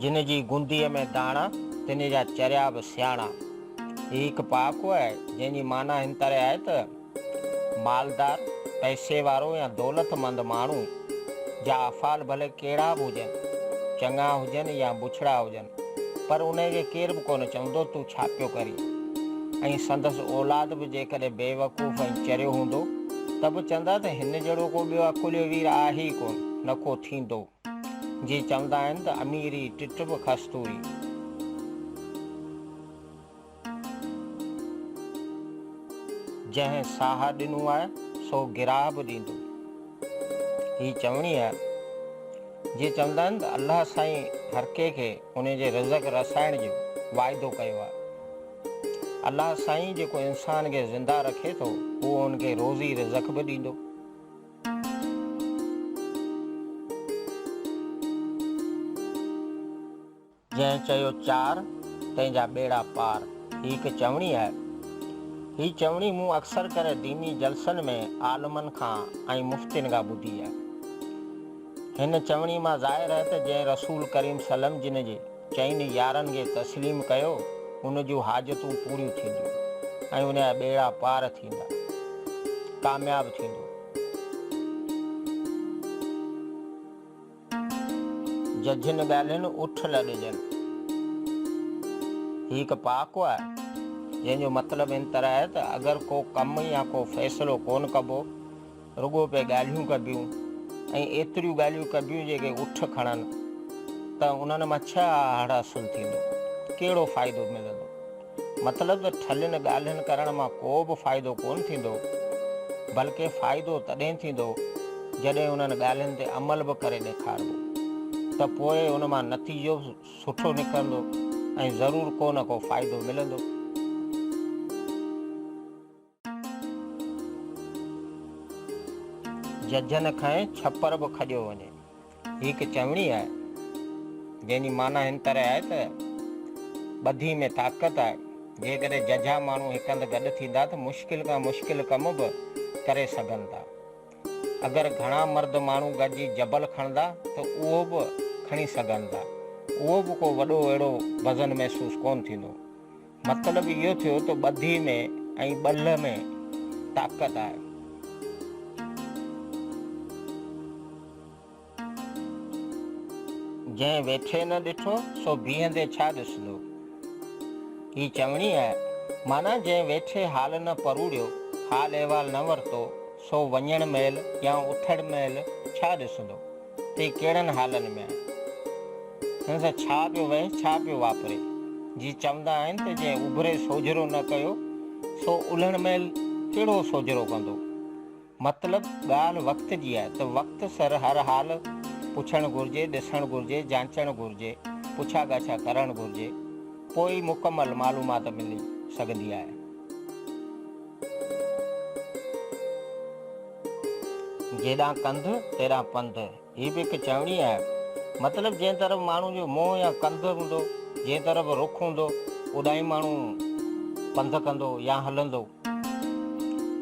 جن جي گنديء ۾ داڻا، تن جا چريا به سياڻا. هي هڪ پهاڪو آهي، جنهن جي معنيٰ هن طرح آهي ته، مالدار، پئسي وارو يا دولتمند ماڻهو، جا افعال ڀلي ڪهڙا به هجن، چڱا هجن يا بڇڙا هجن، پر انهيء کي ڪير به ڪونه چوندو تون ڇا پيو ڪرين ۽ سندس اولاد به جيڪڏهن بيوقوف ۽ چريو هوندو ته به چوندا ته هن جهڙو ڪو ٻيو عقليو وير آهي ئي ڪونه نه ڪو ٿيندو. جي چوندا آهن ته اميري ٽٽ به کستوري. جنهن ساهه ڏنو آهي سو گراهه به ڏيندو. هي چوڻي آهي. جي چوندا آهن ته الله سائين هرڪي کي ان جي رزق رسائڻ جو واعدو ڪيو آهي. الله سائين جيڪو انسان کي زنده رکي ٿو اهو ان کي روزي رزق به ڏيندو. جنهن چيو چار، تنهن جا ٻيڙا پار، هي هڪ چوڻي آهي. هي چوڻي مون اڪثر ڪري ديني جلسن ۾ عالمن کان ۽ مفتين کان ٻڌي آهي. هن چوڻي مان ظاهر آهي ته جنهن رسول ڪريم صلعم جن جي چئن يارن کي تسليم ڪيو، ان جون حاجتون پوريون ٿينديون ۽ ان جا ٻيڙا پار ٿيندا، ڪامياب ٿيندو. ججھن ڳالھين اٺ لڏجن. هي هڪ پهاڪو آهي، جنهن جو مطلب ان طرح آهي ته اگر ڪو ڪم يا ڪو فيصلو ڪونه ڪبو، رڳو پئي ڳالھيون ڪبيون ۽ ايتريون ڳالھيون ڪبيون جيڪي اٺ کڻن، ته انهن مان ڇهه آهڙ حاصل ٿيندو، ڪهڙو فائدو ملندو؟ مطلب ته ٺلين ڳالهين ڪرڻ مان ڪو به فائدو ڪونه ٿيندو، بلڪه فائدو تڏهن ٿيندو جڏهن انهن ڳالهين تي عمل به ڪري ڏيکاربو ته پوء ان مان نتيجو به سٺو نڪرندو ۽ ضرور ڪو نه ڪو فائدو ملندو. ججهن کڻي ڇپر به کڄيو وڃي. هي هڪ چوڻي آهي، جنهن جي معنيٰ هن طرح آهي ته، ٻڌي ۾ طاقت آهي. جيڪڏهن ججها ماڻهو هڪ هنڌ گڏ ٿيندا ته مشڪل کان مشڪل ڪم به ڪري سگهن ٿا. اگر گهڻا مرد ماڻهو گڏجي جبل کڻندا ته اهو به کڻي سگهن ٿا. اهو به ڪو وڏو اهڙو وزن محسوس ڪونه ٿيندو. مطلب اهو ٿيو ته ٻڌي ۾ ۽ ٻلهه ۾ طاقت آهي. جنهن ويٺي نه ڏٺو سو بيهندي ڇا ڏسندو. هي چوڻي آهي. معنيٰ جنهن ويٺي حال نه پروڙيو، حال احوال نه ورتو، سو وڃڻ مهل يا اٿڻ مهل ڇا ڏسندو. تي ڪهڙن حالن ۾ آهي، هن سان ڇا پيو وهي، ڇا پيو واپري، جي چوندا آهن ته جنهن اڀري سوجهرو نه ڪيو، سو الهڻ مهل ڪهڙو سوجهرو ڪندو. مطلب ڳالهه وقت جي آهي ته وقت سر هر حال پڇڻ گهرجي، ڏسڻ گهرجي، جانچڻ گهرجي، پڇا ڳاڇا ڪرڻ گهرجي، پوء ئي مڪمل معلومات ملي سگهندي آهي. جيڏانهن ڪنڌ، تيڏانهن پنڌ، هي به هڪ چوڻي آهي. مطلب جنهن طرف ماڻهو جو منهن يا ڪنڌ هوندو، جنهن طرف رخ هوندو، اوڏانهن ماڻهو پنڌ ڪندو يا هلندو.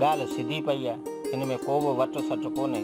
ڳالهه سڌي پئي آهي، ان ۾ ڪو به وٽ سٽ ڪونهي.